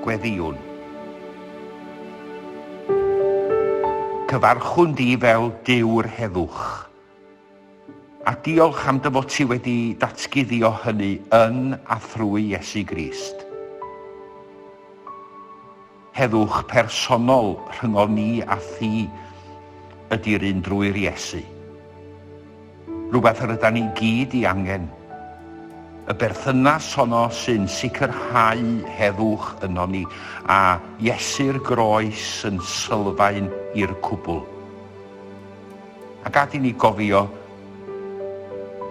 Gweddïwn. Cyfarchwn di fel Duw yr heddwch. A diolch am dy fod ti wedi datguddio hynny yn a thrwy Iesu Grist. Heddwch personol rhyngon ni a thi ydi'r un drwy'r Iesu. Rhywbeth yr ydan ni gyd i angen. Y berthynas honno sy'n sicrhau heddwch ynon ni, a Iesu'r groes yn sylfaen i'r cwbl. A gad i ni gofio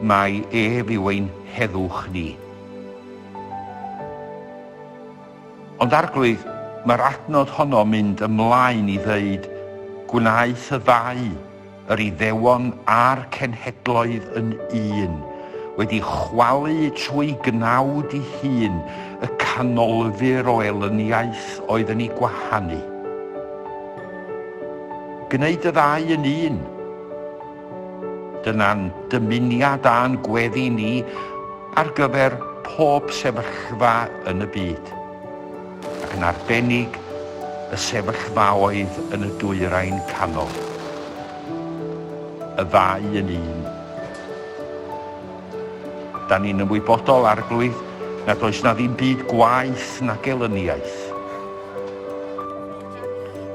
mai ef yw ein heddwch ni. Ond Arglwydd, mae'r adnod honno mynd ymlaen i ddeud, Gwnaeth y ddau, yr Iddewon a'r cenhedloedd yn un, wedi chwalu trwy gnawd i hun y canolfur o elyniaeth oedd yn ei gwahanu. Gwneud y ddau yn un. Dyna'n dymuniad a'n gweddi ni ar gyfer pob sefyllfa yn y byd, ac yn arbennig y sefyllfaoedd yn y Dwyrain Canol. Y ddau yn un. Da ni'n ymwybodol, Arglwydd, nad oes 'na ddim byd gwaeth na gelyniaeth.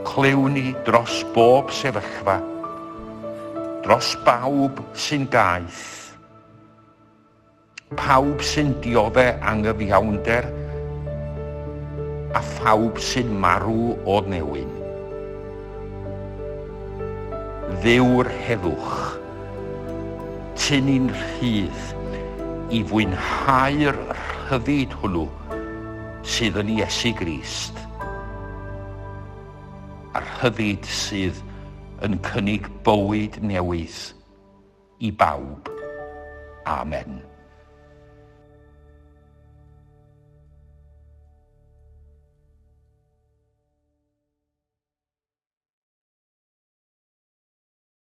Clywn ni dros bob sefyllfa. dros bawb sy'n gaeth, pawb sy'n diodde' anghyfiawnder a phawb sy'n marw o newyn. Ddewr heddwch, tyn i'n rhydd i fwynhau'r rhyddid hwnnw sydd yn Iesu Grist. a rhyddid sydd yn cynnig bywyd newydd i bawb. Amen.